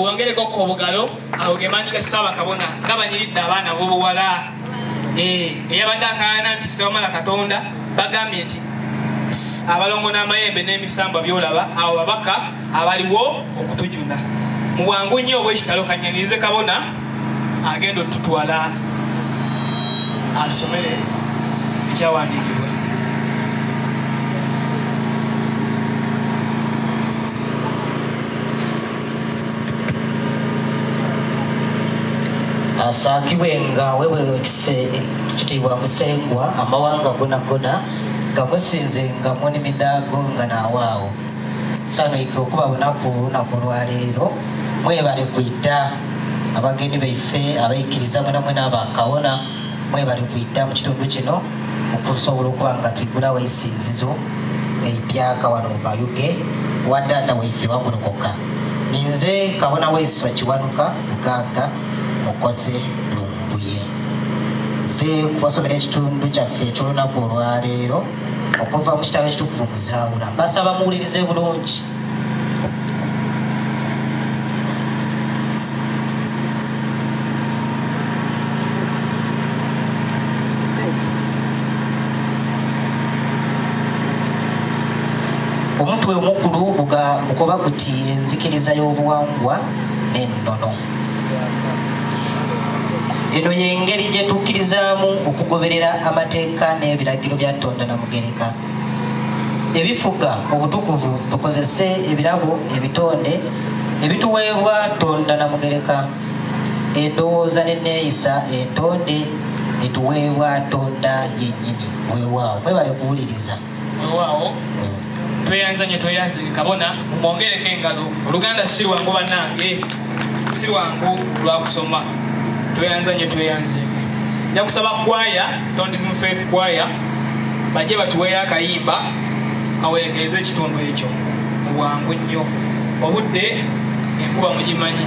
muwongereko ku obugalo awo gemaanyi ga ssaaba kabona nga banyiridde abaana bobuwala eh, eyabadde akaana nti sewamala katonda bagambye nti abalongo n'amayembe n'emisambwa byolaba awo babaka abaliwo okutujuna mu bwangu nnyo obw'ekitalo kanyanirize kabona agenda otutwala asomere ekyawandiikibwa asaakibwe nga wewekise kitiibwa musengwa amawanga gonagona nga musinze nga muni midaago nga naawaawo Nsanyuka okuba bunaku lunaku olwaleero mwebale kwidda abagenyi baife abaikiriza mwena mwena abakawona mwebale kwidda mu kitundu kino okusobola okuba nga tuigulawo eisinzizo eipyaka wano mu mayuge wadaada waife wagulokoka ninze kabona waiswa kiwanuka mugagga mukose lumbuye nze kubasomera ekitundu kyaffe ekyolunaku olwaleero okuva mu kitabo ekitukuvu mu zaawula basaba muwulirize bulungi omutwe omukulu gukoba guti enzikiriza y'obuwangwa n'ennono eno yengeri gyetukkirizaamu okugoberera amateeka n'ebiragiro bya tonda na mugereka ebifuga obutukuvu tukozese ebirabo ebitonde ebituweebwa tonda na mugereka endowooza neneeyisa entonde etuweebwa tonda yennyini weewaawo mwebale kuwuliriza wewaawo tweyanza nyo tweyanze kabona mwongereko engalo oluganda si lwangu banange si lwangu lwakusoma tweyanza nyo tweyanze nja kusaba kwaya tondism faith kwaya bajje batuweeyo akayimba kawerekereza ekitundu ekyo mubwangu nnyo obudde enkuba mugimanyi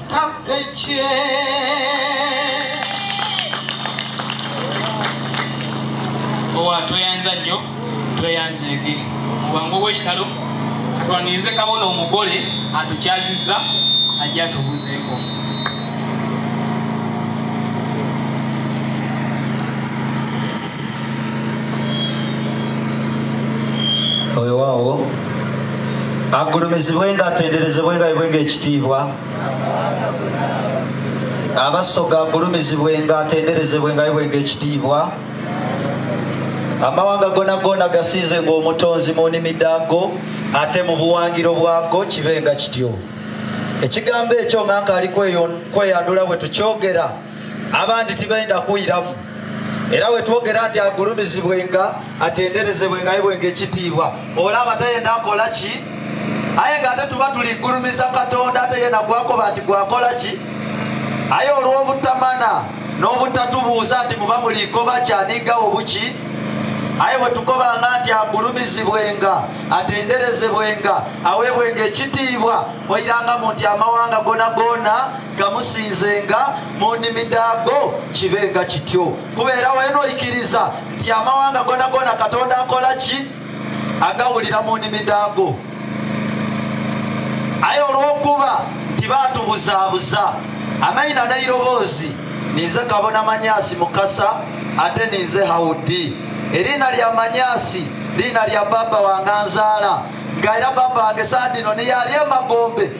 tweyanza nnyo tweyanza ege wange owekitalo twanirize kabona omugole atukyaziza ajja atubuzeeko wewaawo agulumizibwe nga atenderezebwe nga bibwe ngaekitiibwa abasoga agulumizibwe nga atenderezebwe nga bibwe ngaekitiibwa amawanga gona gona gasiize ngaomutonzi mu nimi daago ate mu buwangiro bwago kibe nga kityo ekigambo ekyo nga nkaali kweyanula bwe tukyogera abandi tibenda kuwiramu era wetwogera nti agulumizibwenga atenderezebwenga yebwenga ekitiibwa olaba tayenda akola ki aye nga ate tuba tuligulumiza katonda ate yena gwakoba nti gwakola ki aye olw'obutamana n'obutatubuuza nti muba mulikoba kyanigawo buki aye bwetukobanga nti agulumizibwenga atenderezebwenga awebwenga ekitiibwa oyiranga mu nti amawanga gona gona gamusinzenga mu nnimi daago kibe nga kityo kubeera wenoikiriza nti amawanga gona gona katonda akola ki agawulira mu nnimi daago aye olwokuba nti baatubuzaabuza amaina nairoboozi ninze kabona manyasi mukasa ate ninze haudi eriina lya manyasi liina lya baba wanganzaala nga era baba wange sandino niyali emagombe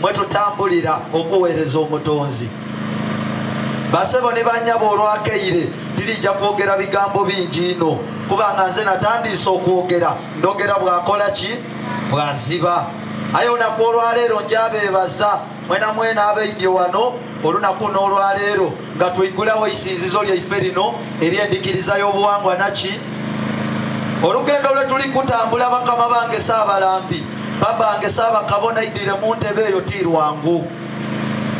mwe tutambulira okuweereza omutonzi basebo ne banyabo olwakeire tirijja kwogera bigambo bingi ino kubanga nze natandiise okwogera ndogera bwakola ki bwaziba aye olunaku olwaleero njabeebaza mwena mwena abaidye wano olunaku n'olwaleero nga tuigulawo isinzizo lyaife lino eryendikiriza y'obuwangwa naki olugendo lwe tuli kutambula bakama bange saabalambi babange saabakabona idire mu ntebe eyo ti lwangu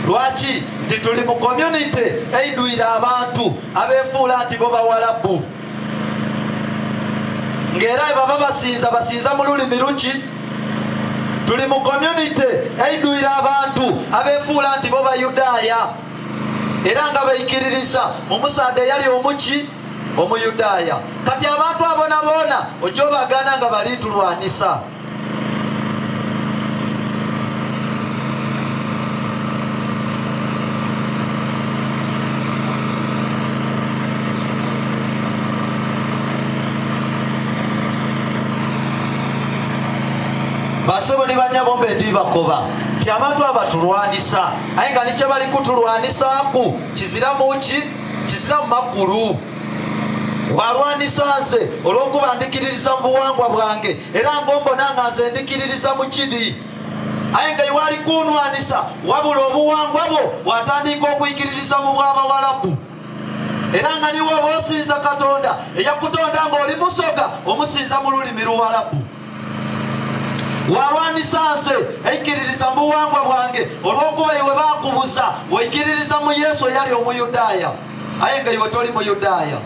lwaki nti tuli mu community eidwire abantu abefuula nti bo bawalabu ng'era ebaba basinza basinza mu lulimi luki tuli mu community eidwire abantu abefuula nti bo bayudaaya era nga baikiririza omusaadha eyali omuki omuyudaaya kati abantu abona boona ojja obagana nga balitulwanisa basebo ne banyabo mbe ndibakoba ti abantu abatulwanisa aye nga nikyebali kutulwanisaku kizira muki kizira mumakulu walwanisa nze olwokuba ndikiririza mu buwangwa bwange era ngombona nga nze ndikiririza mu kidi aye nga iwali kunwanisa wabula obuwangwa bwo bwatandika okuyikiririza mu bwabawalabu era nga niwe oba osinza katonda eyakutonda ngaoli musoga omusinza mu lulimi luwalabu walwanyisa nze eikiririza mu buwangwa bwange olw'okuba iwe bakubuza weikiririza mu yesu eyali omuyudaaya aye nga iwe toli muyudaaya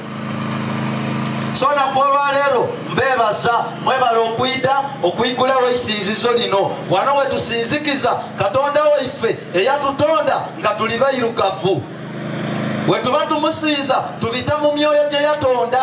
so naku olwaleero mbeebaza mwebala okwida okuigulawo eisinzizo lino wano wetusinzikiza katonda waife eyatutonda nga tuli bairugavu wetuba tumusinza tubita mu myoyo gye yatonda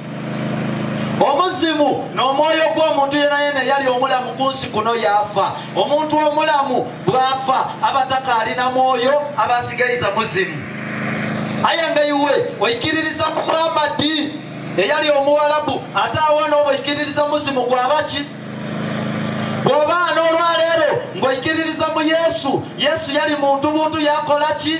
omuzimu n'omwoyo gw'omuntu yena yena eyali omulamu ku nsi kuno yaafa omuntu omulamu bw'afa aba takaalina mwoyo aba asigaiza muzimu aya nga iwe oikiririza muhammadi eyali omuwalabu ate awa n'oboikiririza muzimu gwabaki bw'obaana olwaleero ng'oikiririza mu yesu yesu yali muntu buntu yakola ki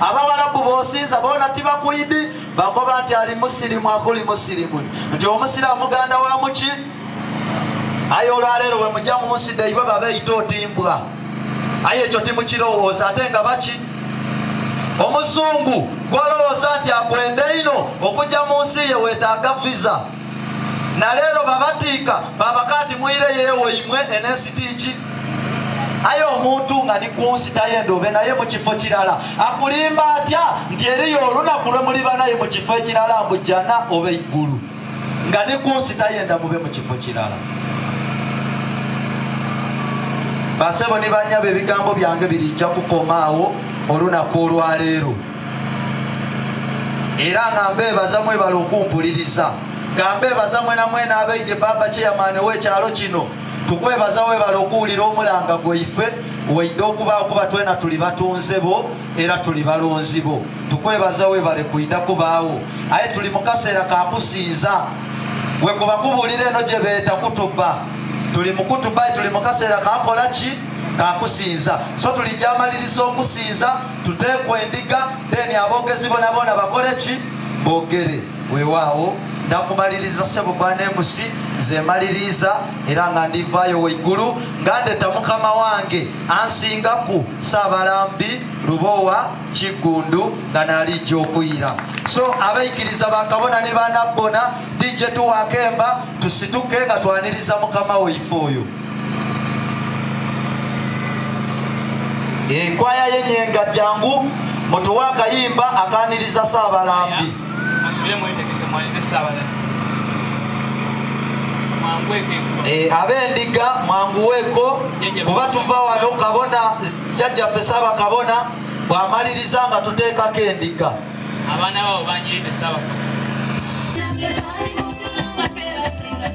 abawalabu bosinza bona tibakuidi bagoba nti ali musirimu akuli musirimu nti omusiramu muganda wa muki aye olwaleero wemuja munsi daiba babeita otimbwa aye ekyo timukirowooza ate nga baki omuzungu gwolowooza nti akwenda ino okuja mu nsi ye wetaaga visa naleero babatiika babaka nti muire yewoimwe enensi tiiki aye omuntu nga ni kunsitayo endobe naye mu kifo kirala akulimba atya nti eriyo olunaku lwe muliba naye mu kifo ekirala mbu jjana oba eggulu nga ni kunsitayo enda mube mu kifo kirala basebo ni banyabo ebigambo byange birijja kukomaawo olunaku olwaleero era nga mbeebaza mwebala okumpuliriza nga mbeebaza mwenamwena abeide baba kyeyamaani ow'ekyalo kino tukwebaza webale okuwulira omulanga gweife waidde okuba okuba twena tuli batunze bo era tuli balonzi bo tukwebaza webale kuida kubaawo aye tuli mukaseera kakusinza wekuba kubulira eno gyebeeta kutuba tuli mukutuba tuli mukaseera kakola ki kakusinza so tuli gyamaliriza okusinza tuteekwa endiga deni aboogezi bonaboona bakole ki boogere Weewaawo, nakumaliriza ssebo Bwanemusi, nze maliriiza era nga ndivaayo weggulu nga ndeta mukama wange ansinga ku Ssaabalambi Lubowa Kiggundu nga naalijja okuyira. So abaikiriza bakabona ne banabbona, DJ tuwaako emba tusituke nga twaniriza mukama waife oyo. enkwaya ye nyenga jangu mutuwe akayimba akaniriza saabalambi eh, abendiga mwanguweeko kuba tuva wano kabona jajjaffe saaba kabona bwamaliriza nga tuteekako endiga abaana babo banyiride saaba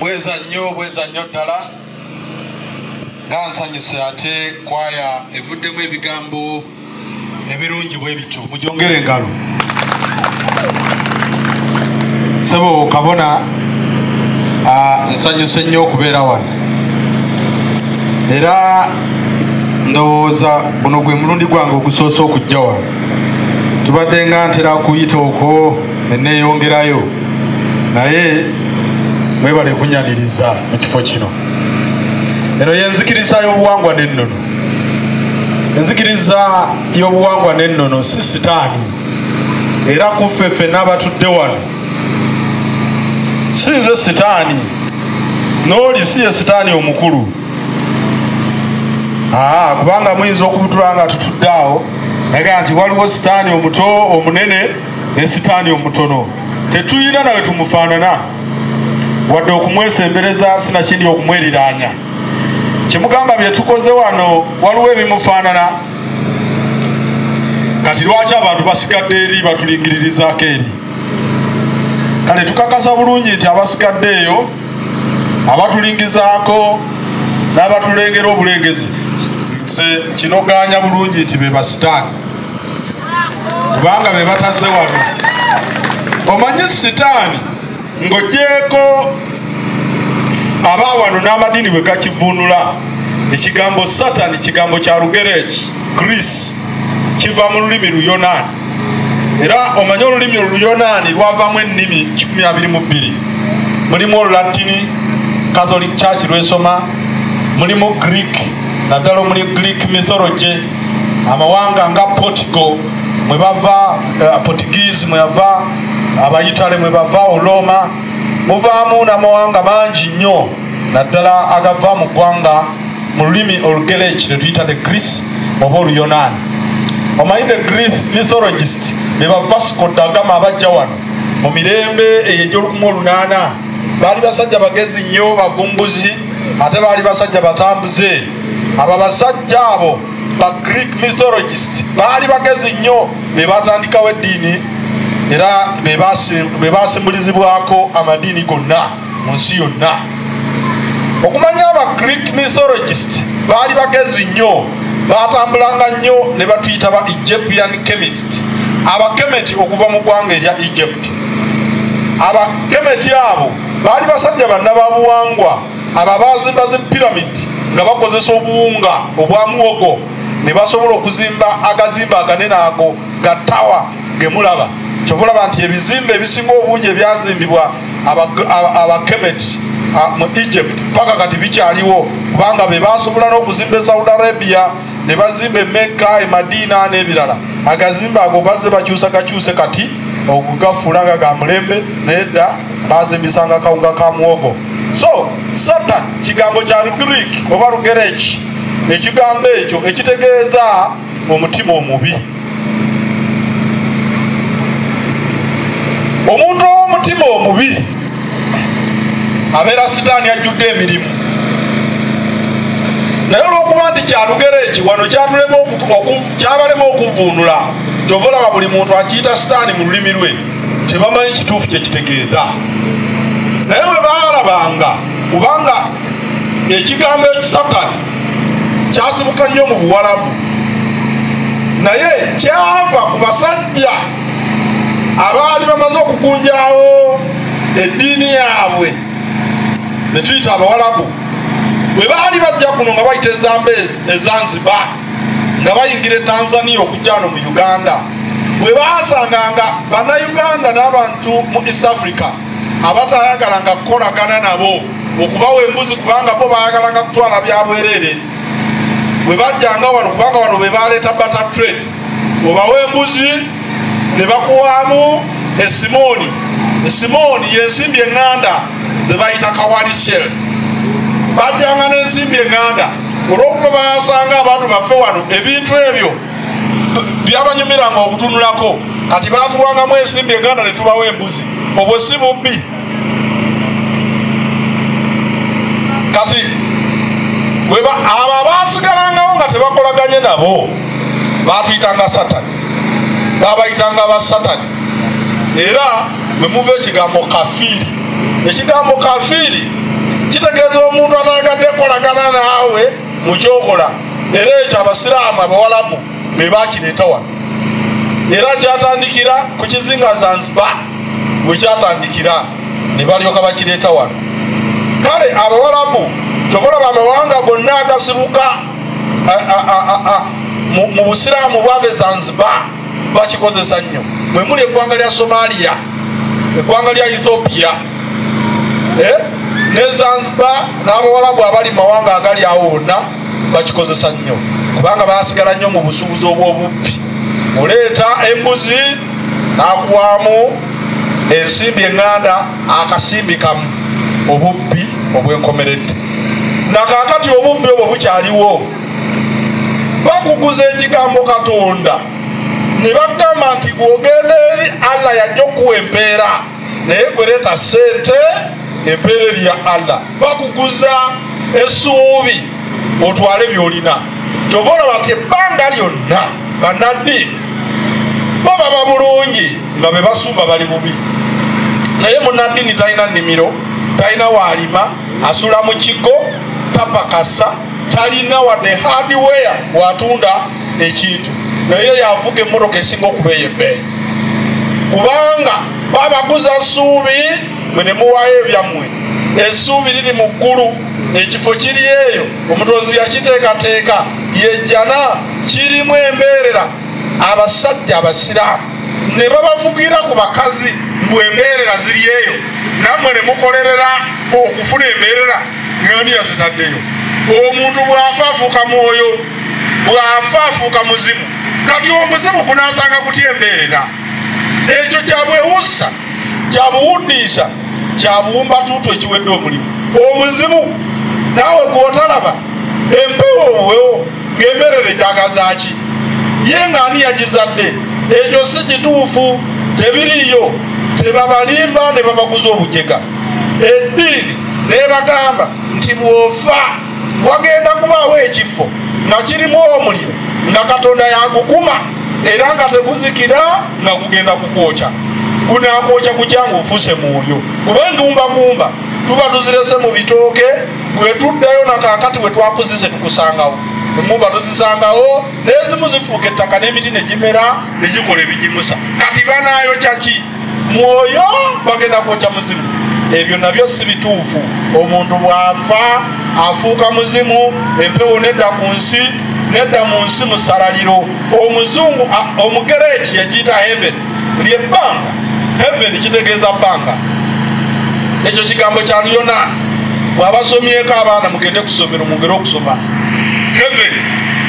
bweza nnyo bweza nnyo ddala nga nsanyuse ate kwaya evuddemu ebigambo ebirungi bwebityo mujongere engalo sebo kabona nsanyuse nnyo okubeera wano era ndowooza guno gwe mulundi gwange ogusoose okujja wano tubadde nga ntera kuyita okwo neneeyongerayo naye mwebale kunyaniriza mu kifo kino eno yenzikiriza y'obuwangwa n'ennono enzikiriza y'obuwangwa n'ennono si sitaani era kuffe ffe n'abatudde wano si nze sitaani n'oli si ye sitaani omukulu aa kubanga muyinza okubutula nga tutudde awo naga nti waliwo sitaani omuto omunene ne sitaani omutono tetuyina nawe tumufaanana wadde okumwesembereza sinakindi okumweriraanya kyemugamba byetukoze wano waliwo ebimufaanana kati lwaki abantu basigadde eri batulingiririzako eri kale tukakasa bulungi nti abasigadde eyo abatulingizaako n'abatulengera obulengezi nze kinogaanya bulungi nti be basitaani kubanga be bataze wano omanyi sitaani ng'ogyeko aba wano n'amadiini bwe gakivunula ekigambo satani kigambo kya lugereki gris kiva mu lulimi luyonaani era omanye olulimi oluyonaani lwavamu ennimi 122 mulimu olulatini catholic church lwesoma mulimu greek naddala omuli greek mythology amawanga nga portigo mwebava eh, portuguese mweyava abayitale mwe bava olooma muvaamu n'amawanga mangi nnyo naddala agava mu ggwanga mu lulimi olugereki lwe tuyita the greece oba oluyonaani omanyi the greek mythologist be bavasiko dagama abajja wano mu mirembe eyo egy'olukumu olunaana baali basajja bagezi nnyo bavumbuzi ate baali basajja batambuze abo abasajja abo ba greek mythologist baali bagezi nnyo be baatandikawo eddiini era be baasimbulizibwako amadiini gonna mu nsi yonna okumanya aba greek mythologist baali bagezi nnyo baatambulanga nnyo ne batuyita ba egyptian chemist abakemeti okuva mu ggwanga erya egypt abakemeti abo baali basajja banna ba buwangwa abo abaazimba zi piramidi nga bakozesa obuwunga obwa muwogo ne basobola okuzimba agazimba aganene ago ga tawa gemulaba kyova olaba nti ebizimba ebisinga obungi ebyazimbibwa abakemeti mu egypt paka kati bikyaliwo kubanga be basobola n'okuzimba e saudi arabia ne bazimba emekka emadiina n'ebirala agazimba ago bazze bakyusa gakyuse kati okugafuula nga ga mulembe naye dda bazimbisanga kawunga ka muwogo so satan kigambo kya lugriik oba lugereki ekigambo ekyo ekitegeeza omutima omubi omuntu ow'omutima omubi abeera sitaani ajjudde emirimu naye olwokuba nti kyalugero eki wano kyabalema okuvvuunula kyova olaba buli muntu akiyita sitaani mu lulimi lwe tebamanyi kituufu kyekitegeeza naye bwe baalabanga kubanga ekigambo ekisatani kyasibuka nnyo mu buwalabu naye kyava ku basajja abaali bamaze okukunjawo eddiini yaabwe netuyita abawalabu bwe baali bajja kuno nga bayita ezamba ezanziba nga bayingira etanzania okujja no mu uganda bwe basanga nga bannayuganda n'abantu mu east africa abatayagalanga kukolagana nabo okubawa embuzi kubanga bo bayagalanga kutwala byabwerere bwe bajjanga wano kubanga wano be baleeta bata trade obawa embuzi ne bakuwaamu esimooni esimooni yensimbi eŋŋanda ze bayita kawali shells bajjanga n'ensimbi eŋŋanda olwokuba bayasanga abantu baffe wano ebintu ebyo byabanyumiranga okutunulako kati batuwangamu ensimbi eganda netubawo embuzi obwo si bubbi kati weba abo abasigalangawo nga tebakolaganye nabo batuyitanga satani babayitanga basatani era wemuva ekigambo kafiiri ekigambo kafiiri kitegeeza omuntu ataagadde kolagana naawe mukyokola era ekyo abasiraamu abawalabu be bakireeta wano era kyatandikira ku kizinga zanzibar bwe kyatandikira ne balyoka bakireeta wano kale abawalabu tokolaba amawanga gonna agasibuka mu busiraamu bwave zanzibar bakikozesa nnyo mwe muli eggwanga lya somaliya eggwanga lya ethiopia eh? ne zanzibar n'abawalabu abali mumawanga agali awo wonna bakikozesa nnyo kubanga basigala nnyo mu busuubuzi obw'obubbi oleeta embuzi nakuwamu ensimbi eŋŋanda akasimbi kamu obubbi obwenkomeredde nakakati obubbi obwo bukyaliwo bakuguza ekigambo katonda ne bagamba nti bwogenda eri allah yajja okuwa empeera naye gwereeta sente empeera eri ya allah bakuguza esuubi otwale byolina kyova olaba nti ebbanga lyonna banaddi bo baba bulungi nga be basumba bali bubi naye munaddini talina nnimiro talina waalima asula mu kigo tapakasa talina wadde hardware watunda ekintu naye yavuga emmotoka esinga okubeeya ebbeeyi kubanga babaguza suubi mwe nemuwaayo ebyammwe esuubi liri mu ggulu ekifo kiri eyo omutonzi yakiteekateeka yejjana kirimu embeerera abasajja abasiraamu ne babavugira ku bakazi mbu embeerera ziri eyo nammwe ne mukolerera okufuna embeerera ani yazitaddeyo omuntu bwafa afuuka mwoyo bwafa afuuka muzimu kati omuzimu gunasanga kuti embeerera ekyo kyabwewussa kyabuwundiisa kyabuwumba tuutu ekiwedde omulimu omuzimu naawe gwotalaba empewo obuwewo ngaembeerera ekyagazaki ye nga ani yagizadde ekyo si kituufu tebiriyo tebabalimba ne babaguza obujega ebbiiri nebagamba nti bwofa wagenda kubaawo ekifo nga kirimu omuliro nga katonda yakukuma era nga teguzikira nga gugenda kukwokya gunakwokya kukyanga ofuse mwoyo kuba engumbagumba tuba tuzirese mu bitooke bwetuddayo nakakati bwetwakuzise tukusangawo emuba tuzisangawo nezimu zifuuka ettaka n'emiti negimera negikola ebigimusa kati banayokya ki mwoyo bagenda kwokya muzimu ebyo nabyo si bituufu omuntu bw'afa afuuka muzimu empewo nedda ku nsi nedda mu nsi musalaliro omuzungu omugereeki yagiyita heaven lyebbanga heaven kitegeeza bbanga ekyo kigambo kya luyonaani bwabasomyeko abaana mugende kusomero mugere okusoma heaven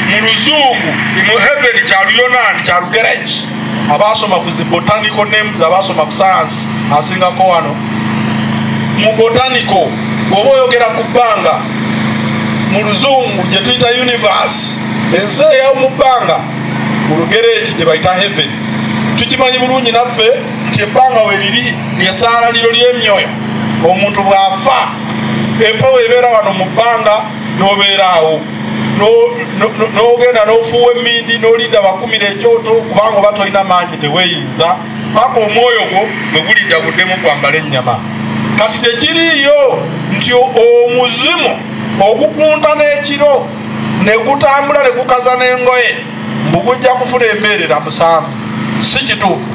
mu luzungu mu heaven kya luyonaani kya lugereeki abaasoma ku zi botanical names abaasoma ku science asingako wano mu botanical oba oyogera ku bbanga mu luzungu gye tuyita universe ensi eyawo mu bbanga mu lugereeki gye bayita heaven tukimanyi bulungi naffe nti ebbanga we liri lyesaala liro ly'emyoyo omuntu bw'afa empewo ebeera wano mu bbanga n'obeeraawo n'ogenda n'ofuuwa emmindi n'olinda bakumira ekyoto kubanga oba tolina maanyi teweyinza paka omwoyo gwo bwe gulidda guddemu kwambala ennyama kati tekiriiyo nti omuzimu ogukunta n'ekiro ne gutambula ne gukaza n'engoye mbu gujja kufuna embeerera musanvu si kituufu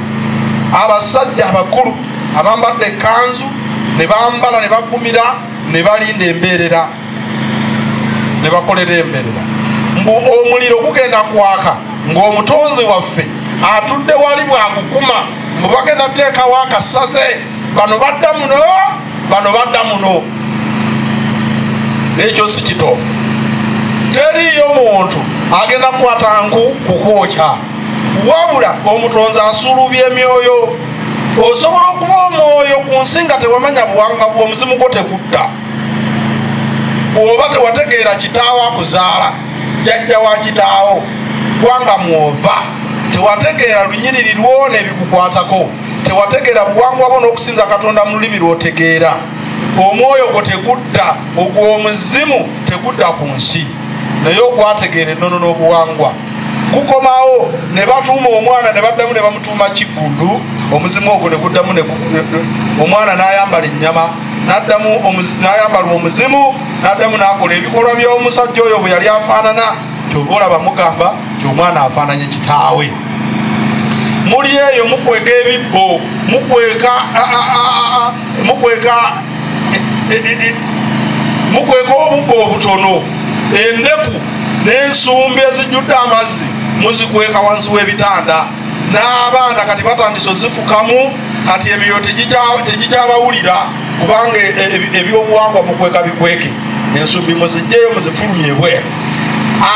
abasajja abakulu abambadde ekkanzu ne bambala ne bagumira ne balinda embeerera ne bakolera emberera mbu omuliro gugenda kwaka ng'omutonzi waffe atudde wali bwagukuma mbu bagenda teekawo akasaze bano badda muno bano badda muno ekyo si kitoofu teriiyo muntu agenda kukwata nku kukwokya wabula omutonzi asuulubya emyoyo osobola okuba omwoyo ku nsi nga tewamanya buwanga bwomuzimu gwo tegudda bwoba tewategeera kitaawo akuzaala jajja wa kitaawo gwanga mwova tewategeera lunyiriri lwona ebikukwatako tewategeera buwangwa bwo n'okusinza katonda mu lulimi lwotegeera omwoyo gwo tegudda ogw'omuzimu tegudda ku nsi naye okwategeera ennono n'obuwangwa kukomawo ne batuuma omwana ne baddamu ne bamutuuma kiggundu omuzimu ogwo ne guddamu omwana n'ayambala ennyama naddamu nayambalwa omuzimu naddamu nakola ebikolwa byomusajja oyo bwe yali afaanana kyova olaba mugamba ti omwana afaananye kitaawe muli eyo mukweka ebibbo mukweka mukweka e, e, e, mukweka obubbo obutono endeku n'ensumbi ezijjudde amazzi muzikweka wansi w'ebitanda n'abaana kati batandise ozifukamu kati ebyo tegikyabawulira kubanga e, e, e, ebyobuwangwa mukweka bikweke ensumbi muzijjeyo muzifulumye ebweru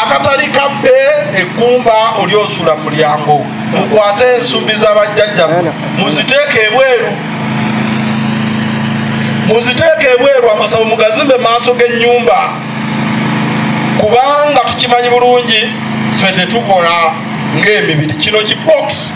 akatali kabbe eggumba oli osula mulyango mukwate ensumbi zabajjajja muziteeke ebweru muziteeke ebweru amasabo mugazimbe maaso g'ennyumba kubanga tukimanyi bulungi fe tetukola ng'emibiri kino kibox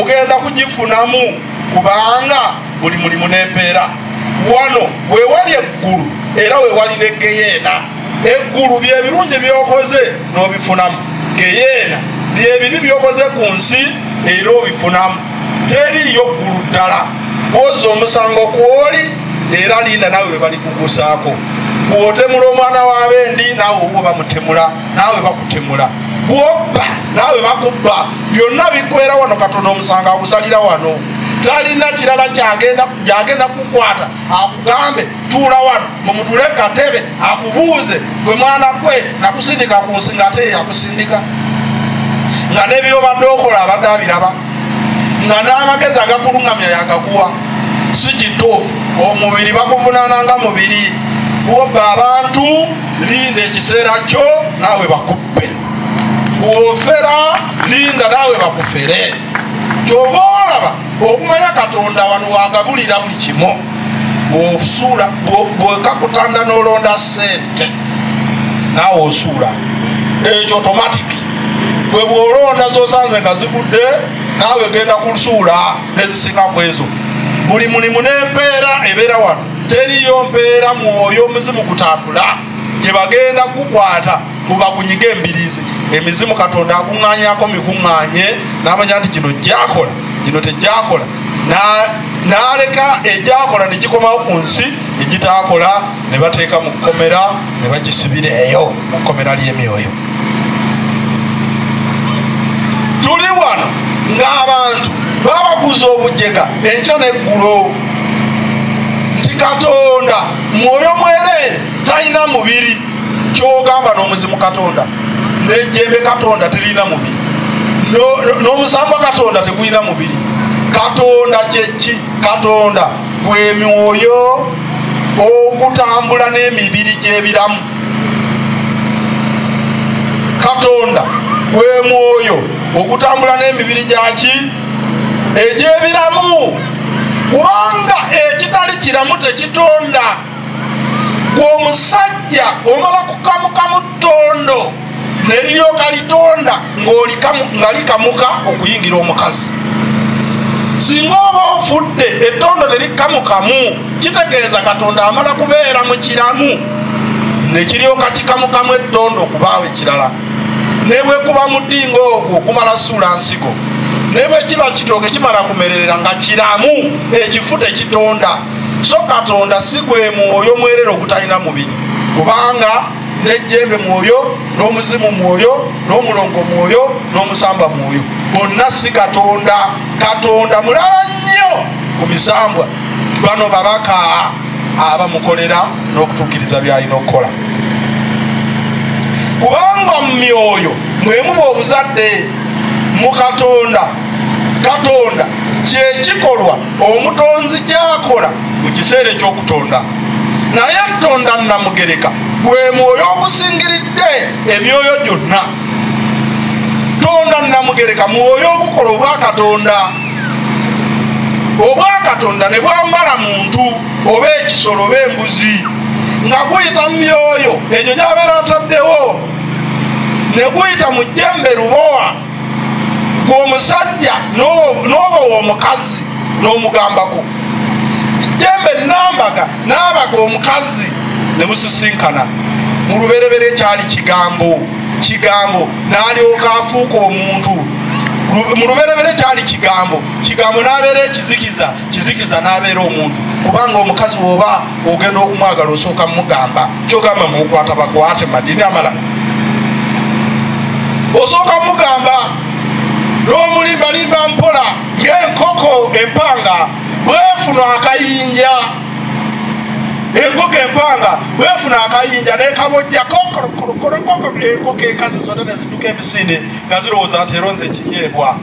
ogenda kugifunamu kubanga buli mulimu nempeera wano wewali eggulu era wewali negeyeena eggulu byebirungi byokoze nobifunamu geyeena byebibi byokoze ku nsi era obifunamu teriyo ggulu ddala oza omusango kwoli era linda nawe webalikugusaako bwotemula omwana wabendi nawe oba bamutemula naawe bakutemula bwobba naawe bakubba byonna bikwera wano katonda omusango agusalira wano talina kirala gyagenda kukwata akugambe tuula wano mumutule katebe akubuuze gwe mwana kwe nakusindika ku nsi nga ate yakusindika nga nebyobadde okola abadde abiraba nga n'amagezi agakulungamya yagakuwa si kituufu omubiri bakuvunaana nga mubiri gwoba abantu linda ekiseera kyo naawe bakuppe ofera linda naawe bakufere kyova olaba okumanya katonda wano wagabulira buli kimu osuula bwekakutanda nolonda sente naawe osuula ekyo otomatiki bwe bwolonda zosanze nga zigudde naawe genda kusuula nezisinga kwezo buli mulimu nempeera ebeera wano teriyo mpeera mwoyo omuzimu kutambula gyebagenda kukwata mubakunyige embirizi emizimu katonda akuŋanyako mikuŋanye namanya nti gino gyakola gino tegyakola naleka egyakola negikomawo ku nsi egitakola nebateeka mu kkomera nebagisibira eyo mu kkomera lyemyoyo tuli wano ng'abantu babaguza obujega enkya neggulo nti katonda mwoyo mwereere talina mubiri kyogamba n'omuzimu katonda nejembe katonda terina mubiri n'omusamba katonda tegulina mubiri katonda kyeki katonda gwemyoyo ogutambula n'emibiri gy'ebiramu katonda gwemwoyo ogutambula n'emibiri gyaki egy'ebiramu kubanga ekitali kiramu tekitonda gweomusajja omala kukamuka mu ttondo neriryoka litonda nga likamuka okuyingira omukazi singa oba ofudde ettondo terikamukamu kitegeeza katonda amala kubeera mu kiramu nekiryoka kikamukamu ettondo okubaawo ekirala ne bwe kuba mudingo ogwo kumala suula nsigo ne bwe kiba kitooke kimala kumererera nga kiramu ekifu tekitonda so katonda si gwe mwoyo mwerere ogutalina mubiri kubanga nejjembe mwoyo n'omuzimu mwoyo n'omulongo mwoyo n'omusamba mwoyo bonna si katonda katonda mulala nnyo ku misambwa bano babaka aba mukolera n'okutuukiriza by'alina okukola kubanga mu myoyo mwe muba obuzadde mu katonda katonda kyekikolwa omutonzi kyakola mu kiseera ekyokutonda naye tonda namugereka gwe mwoyo ogusingiridde emyoyo gyonna tonda namugereka mwoyo ogukola obwakatonda obwakatonda ne bwambala muntu oba ekisolo oba embuzi nga guyita mu myoyo egyo gyabeera ataddewo ne guyita mu jjembe lubowa gwomusajja n'oba womukazi n'omugambako jjembe nambaga naabaga omukazi ne musisinkana mu lubereberye kyali kigambo kigambo n'alyoka afuuka omuntu mu luberebere kyali kigambo kigambo n'abeera ekizikiza kizikiza n'abeera omuntu kubanga omukazi woba ogenda okumwagala osooka mugamba kyogamba mukwata bakwate madini amalala osooka mugamba n'omulimbalimba mpola ng'enkoko empanga bwefuna akayinja enkoko empanga bwefuna akayinja nekabojja enkoko ekazi zona neziduka emisinde nga zirowooza nti eronze ekinyeebwa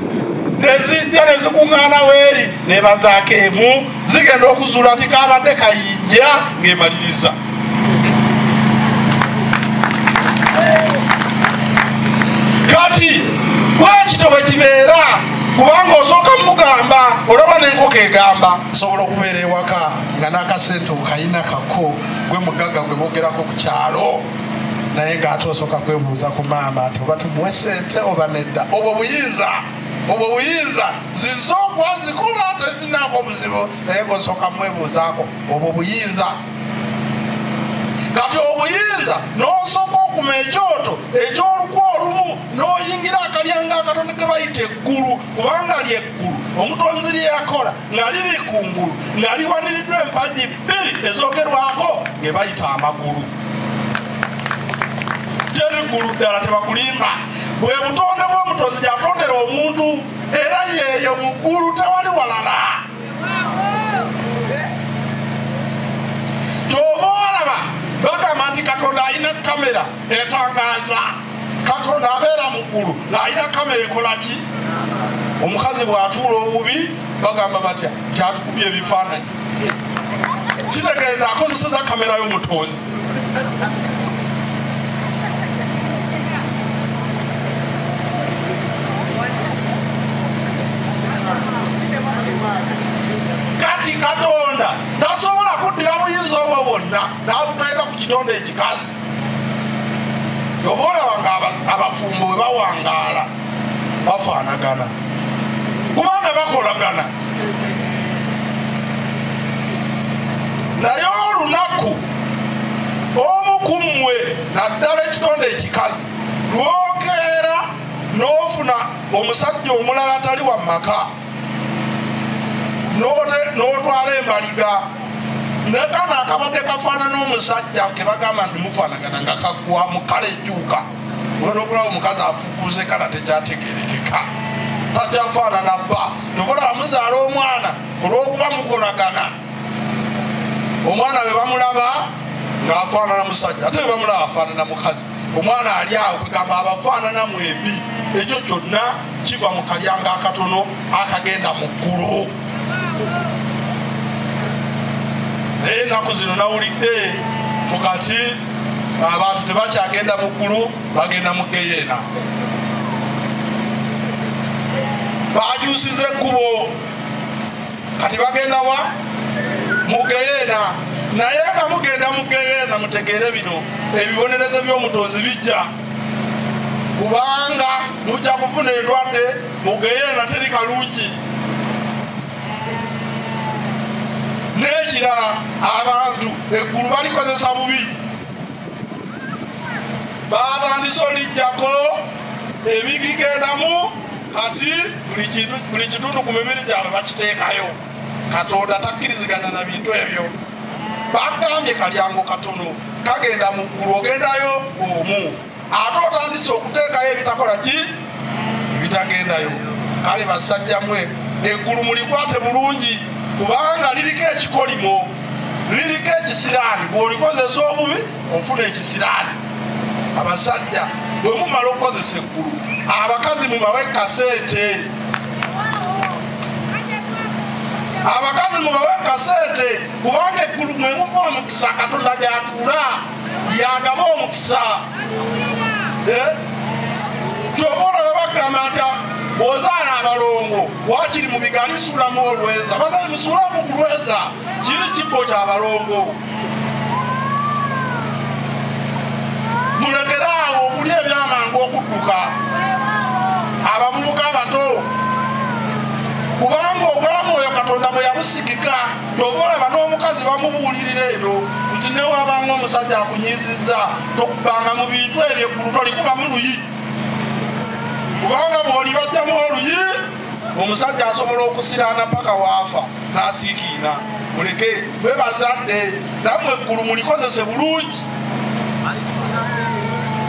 nezijja nezikuŋŋaana weeri nebazaako emu zigenda okuzuula nti kabadde kayinja ngemaliriza kati bwekito bwekibeera kubanga osooka mugamba olaba nenkoko egamba osobola okubeera ewaka nga n'akasente okayina kako gwe mugagga gwe bogerako ku kyalo naye ng'ate osooka kwebuuza ku maama nti oba tumuwe sente oba nedda obwo buyinza obwo buyinza ziza okuba zikulu ate zinaako obuzibu naye ng'osooka mwebuuzaako obwo buyinza kati obuyinza n'osooka okuma ekyoto ekyolukwa olumu n'oyingira akalyanga akatoni ke bayita eggulu kubanga lye omutonzi lye yakola nga liri ku ngulu nga liwaniriddwa empagi bbiri ezogerwako nge bayita amagulu terigulu ddala tebakulimba bwe butonde bw'omutonzi gyatondera omuntu era yeeyo mu ggulu tewali walala kyova olaba bagamba nti katonda alina kamera etangaaza katonda abeera mu ggulu ng'alina kamera ekola ki omukazi bw'atuula obubi bagamba batya kyatukubye ebifaananyi kitegeeza akozeseza kamera y'omutonzi kati katonda tasobola kuddira buyinza obwo bwonna n'abuteeka ku kitonda ekikazi oba olaba nga abafumbo bwe bawangaala bafaanagana kubanga bakolagana naye olunaku omu ku mmwe naddala ekitonde ekikazi lwokeera n'ofuna omusajja omulala atali wa maka n'otwala embaliga nekano akabadde kafaanana omusajja kebagamba nti mufaanagana nga kagwamu kale ejuuka olwokulaba omukazi afukuze kala tekyategerekeka takyafaanana bba tokola amuzaala omwana olwokuba mukolagana omwana we bamulaba ngaafaanana musajja ate webamulaba afaanana mukazi omwana ali awo kwegamba abafaanana mwembi ekyo kyonna kiva mu kalyanga akatono akagenda mu ggulu naye ennaku zino nawulidde mukati abantu tebakyagenda mu ggulu bagenda mu geyeena bajusiza ekkubo kati bagenda wa mugeyeena naye nga mugenda mugeyeena mutegeere bino ebibonerezo by'omutonzi bijja kubanga mujja kufuna endwadde mugeyeena teri kalungi n'ekirala abantu eggulu balikozesa bubi batandise olijjako ebigigendamu kati buli kitundu ku mibiri gyabwe bakiteekayo katonda takkiriziganya na bintu ebyo bagambye kalyango katono kagenda mu ggulu ogendayo omu ate otandise okuteekayo ebitakola ki ebitagendayo kale basajja mwe eggulu mulikwate bulungi kubanga liriko ekikolimo liriko ekisiraani bwolikozesa obubi ofuna ekisiraani abasajja bwe mumala okukozesa eggulu abakazi mubawe kasente abakazi mubawe kasente kubanga eggulu mwe muva omukisa katonda gyatuula yagaba omukisa eh? kyova olaba bagamba nti ozaala abalongo wakiri mu bigali suulamu olweza banaye musuulamu kulweza kiri kibbo kyabalongo mulekere awo okuli ebyamangu okudduka abavubuka abato kubanga obulamu oyo katonda bwe yabusikika kyova olaba n'omukazi bamubuulirira ebyo nti newabanga omusajja akunyiziza tokubanga mu bintu ebyo eggulu tolikubamu luyi kubanga bwoli bajjamu oluyi omusajja asobola okusiraana paka waafa nasiikiina muleke bwe bazadde namwe eggulu mulikozese bulungi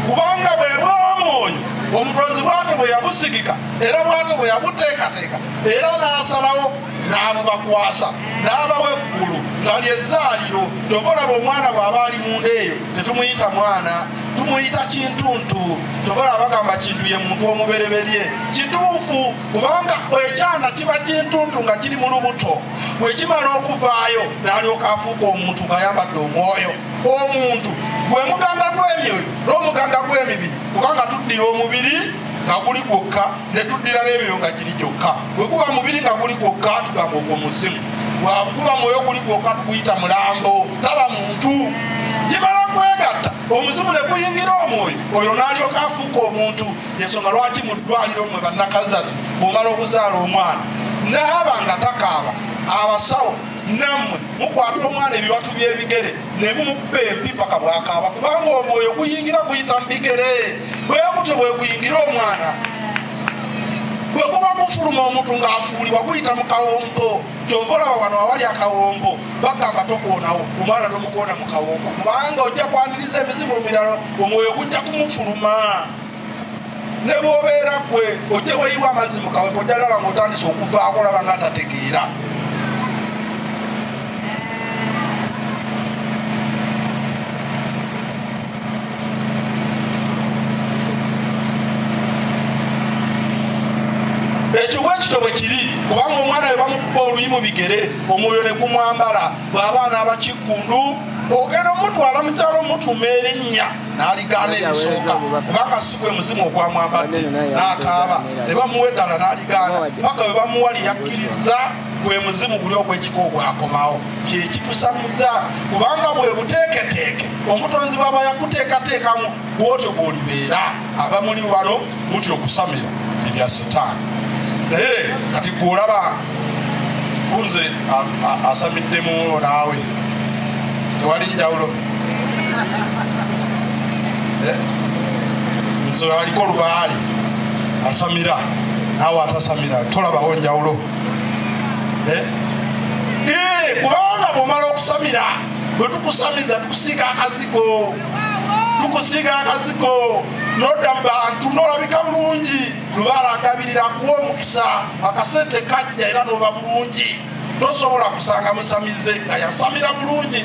kubanga bwe bwomwoyo omutonzi bwate bwe yabusigika era bwate bwe yabuteekateeka era n'asalawo n'abubakwasa n'abawa eggulu nga lyezaaliro kyoka olaba omwana bw'aba ali munda eyo tetumuyita mwana tumuyita kintuntu tobola abagamba kintu ye muntu omubereberye kituufu kubanga ekyana kiba kintuntu nga kiri mu lubuto wekimala okuvaayo nalyoka afuuka omuntu ngayambadde omwoyo omuntu gwe muganda gw'emyoyo n'omuganda gw'emibiri kubanga tuddira omubiri nga guli gwokka ne tuddira n'ebyoyo nga giri gyokka bwe guba mubiri nga guli gwokka tugamba ogwo muzimu bwakuba mwoyo guli gwokka tukuyita mulambo taba muntu gimala kwegatta omuzimu ne guyingira omwoyo oyo n'alyoka afuuka omuntu ensonga lwaki mu ddwaliro mwe bannakazana bwomala okuzaala omwana naaba nga takaaba abasawo nammwe mukwata omwana ebiwatu by'ebigere ne mumukuba empi paka bwakaaba kubanga omwoyo guyingira guyita mu bigere bwe gutyo bwe guyingira omwana bwe guba gufuluma omuntu ng'afuulibwa guyita mu kawompo Kyova olaba wano awali akawongo bagamba tokoonawo omwana tomukoona mu kawongo kubanga ojja kwangiriza ebizibu ebirala omwoyo gujja kumufuluma ne bwobeera gwe ojja weyiwa amazzi mu kawongo ojja laba nga otandise okuvaako olaba nga atategeera ekyo bwe kito bwe kiri kubanga omwana we bamukuba oluyi mu bigere omwoyo ne gumwambala bw'abaana abakiggundu ogenda omutwala mukyalo omutuma erinnya n'aligaana ebisooka kubanga si gwe muzimu ogwamwambadde n'akaaba ne bamuwa eddala n'aligaana paka bwe bamuwa lyeyakkiriza gwe muzimu guli ogwekika ogwakomawo kyekitusamiza kubanga bwebuteeketeeke omutonzi bwaba yakuteekateekamu bwotyo bwolibeera abamuli wano muti okusamira ebya sitaani naye kati gweolaba kunze asamiddemu naawe tewali njawulo eh? nze aliko lubaale asamira naawe atasamira tolabawo njawulo eh? Eh, kubanga bwomala okusamira bwetukusamiza tukusiiga akazigo tukusiiga akazigo nodda mu bantu nolabika bulungi lubaala agabirira kuwa omukisa akasente kajja era noba bulungi tosobola kusanga musamize nga yasamira bulungi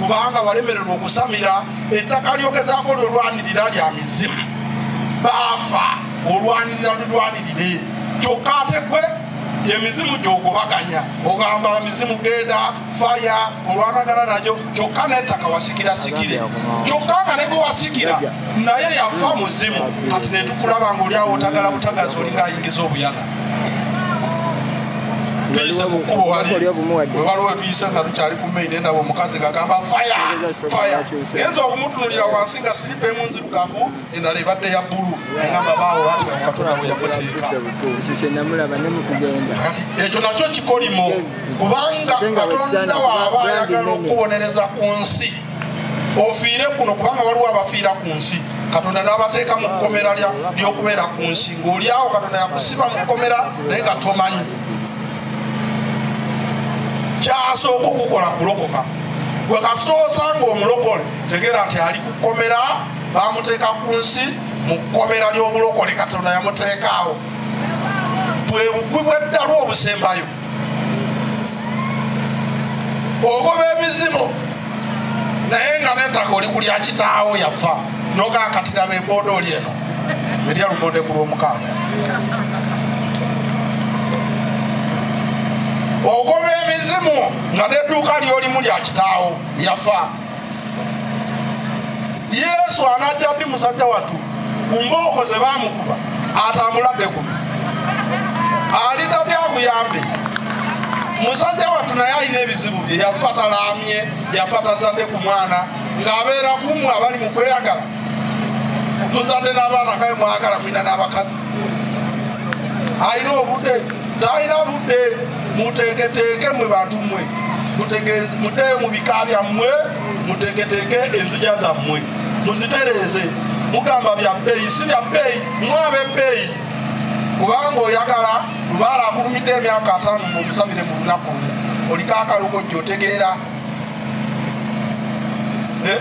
kubanga walemererwa okusamira ettaka lyogezaako lwelwanirira lya mizimu baafa olwanirira lulwanirire kyokka ate gwe emizimu gyogobaganya ogamba mizimu genda faya olwanagana nayo kyokka nettaka wasikira sikire kyokka nga negwe wasikira naye yafa muzimu kati netukulaba nga oliawo otagala butagazi olinga ayingiza obuyaga tuyise mu kkubo wali wewaliwo wetuyise nga tukyali ku maine nabo omukazi ngagamba faya faya genza okumutunulira wansi nga siripa emu nzirugavu endala ebadde ya bbulu egamba baawo ati katonda bwe yamuteeka ekyo nakyo kikolimo kubanga katonda waaba ayagala okubonereza ku nsi ofiire kuno kubanga waliwo abafiira ku nsi katonda nabateeka mu kkomera lyokubeera ku nsi ngaolyawo katonda yakusiba mu kkomera naye nga tomanyi kyasooka okukola kulokoka gwe kasita osanga omulokole tegeera nti ali ku kkomera bamuteeka ku nsi mu kkomera ly'obulokole katonda yamuteekaawo bwe bukwi bw'eddalu obusembayo ogoba emizimu naye nga netaka oli kulya kitaawo yafa nogakatira beboda oli eno erya lugonde ku lwomukaaga ogoba emizimu nga neduuka lyolimu lya kitaawo yafa yesu anajja ddi musajja wattu ku mbooko ze bamukuba atambuladde kuno alida byabuyambi musajja wattu naye alina ebizibu bye yafa talaamye yafa tazadde ku mwana ng'abeera kumwe abali mu kweyagala tuzadde n'abaana kaye mwagala mwina n'abakazi alina obudde talina budde muteeketeeke mwe bantu mwe mute mu bika byammwe muteeketeeke enzija zammwe muzitereeze mugamba bya bbeeyi si bya bbeeyi mwaba ebbeeyi kubanga oyagala lubaala akulumidde emyaka ataano mumusabire mu lunaku oliko akalugojja otegeera eh?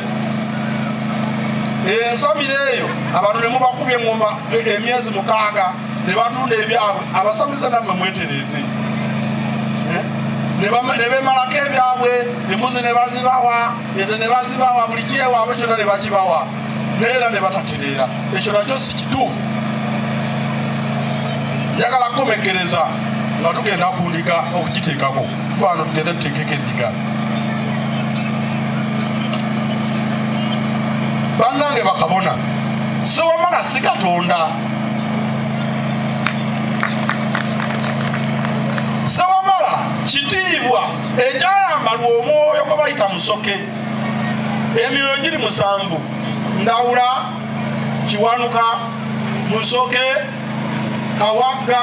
ensabira eyo abantu nemubakubye engoma e, emyezi mukaaga nebatunda ebyabwe abasamize namwe mwetereeze eh? nebemalako ebyabwe emuzi nebazibawa ete nebazibawa buli kyewaabwe kyona nebakibawa neera nebatatereera ekyo nakyo si kituufu njagala kukomekereza nga tugenda kundika okukiteekako kwano tugende tutekeko endiga banange bakabona siwamala si katonda siwamala kitiibwa ekyayambalwa omwoyo gwe bayita musoke emyoyo giri musanvu ndawula kiwanuka musoke Kawagga,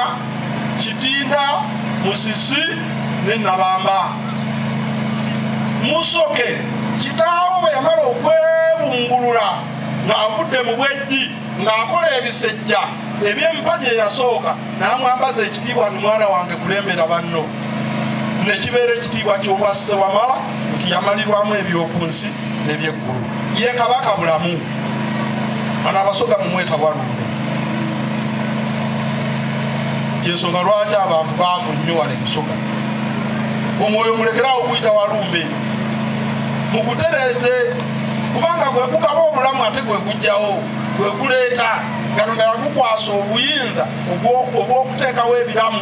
Kitinda, Musisi ne Nabamba. Musoke kitaawe bwe yamala okwebungulula ng'avudde mu bwejji ng'akola ebisejja eby'empagi eyasooka n'amwambaza ekitiibwa ni mwana wange kulembera banno ne kibeera ekitiibwa ky'obwa Ssewamala nti yamalirwamu eby'oku nsi n'ebyeggulu ye Kabaka bulamu. bano abasoga mumwetawalumu yensonga lwaki abantu baavu nnyo wala emusoga omwoyo mulekerawo okuyita walumbe mukutereeze kubanga gwekugaba obulamu ate gwekugjawo gwekuleeta katonda yakukwasa obuyinza obwokuteekawo ebiramu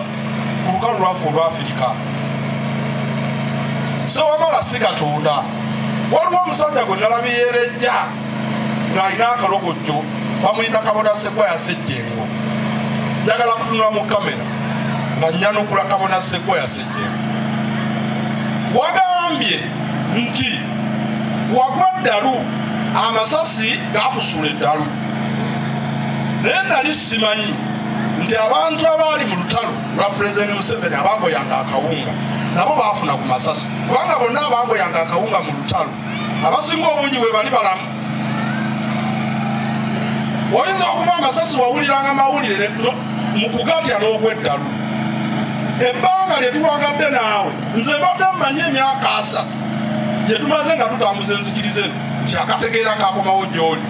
ku lukalu lwaffe olwafirika sewamala si katonda waliwo omusajja gwe nalabye yerejja ng'alina akalogojjo bamuyita kabona segwa yasejjengo njagala kutunula mu kamera nga nyanukula kabona segwa yasejjengo wagambye nti wagwa ddalu amasasi gakusula eddalu naye nali simanyi nti abantu abaali mu lutalo lwa pulezidenti museveni abagoyanga akawunga nabo baafuna ku masasi kubanga bonna abangoyanga akawunga mu lutalo abasinga obungi bwe bali balamu oyinza okuba amasasi wawuliranga mawulire mu kugatya n'okweddalu ebbanga lye tuwangadde naawe nze badde mmanyi emyaka asa gye tumaze nga tutambuza enzikiriza eno nti akategeera kakomawo gy'oli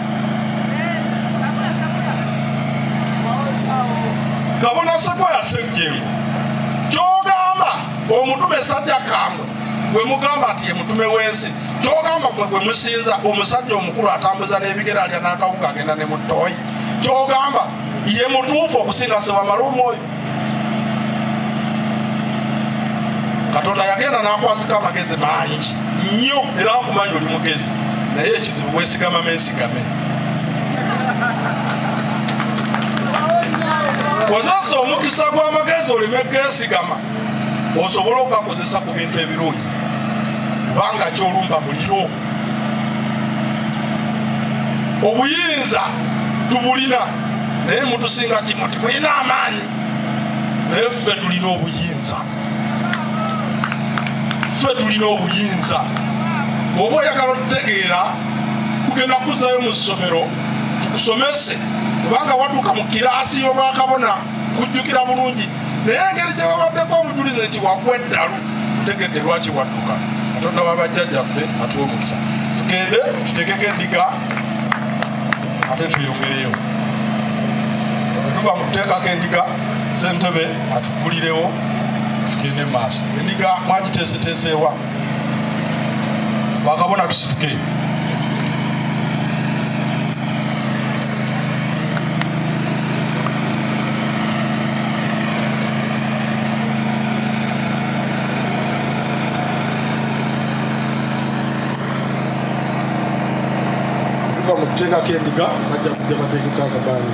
kabona sekwaya sejjemu omutume sajja kambwe gwe mugamba nti ye mutume w'ensi kyogamba gwe gwe musinza omusajja omukulu atambuza n'ebigere alya n'akawuka agenda ne muttooyi kyogamba ye mutuufu okusinga sewamala omwoyo katonda yagenda n'akwazika amagezi mangi nnyo era nkumanyi oli mugezi naye ekizibu wesigama mensigame kozesa omukisa gw'amagezi oleme geesigama osobola okugakozesa ku bintu ebirungi kubanga kyolumba muliro obuyinza tubulina naye mutusinga kimu timulina amaanyi naye ffe tulina obuyinza ffe tulina obuyinza oba oyagala okutegeera kugenda kuzayo mu ssomero tukusomese kubanga watuuka mu kiraasi y'obwakabona kujjukira bulungi naye engeri gye babaddeko obujulizi nti wagwa eddalu tegedde lwaki wadduka katonda wabajjajjaffe atuwa omukisa tugende tutekeko endiga ate tuyongereyo tuba mukuteekako endiga sentebe Mbulirewo tugende mu maaso. Endiga mwagiteeseteeseewa? Bakabona tusituke. kuteekako endiga bajja kujja bateekeko akabaani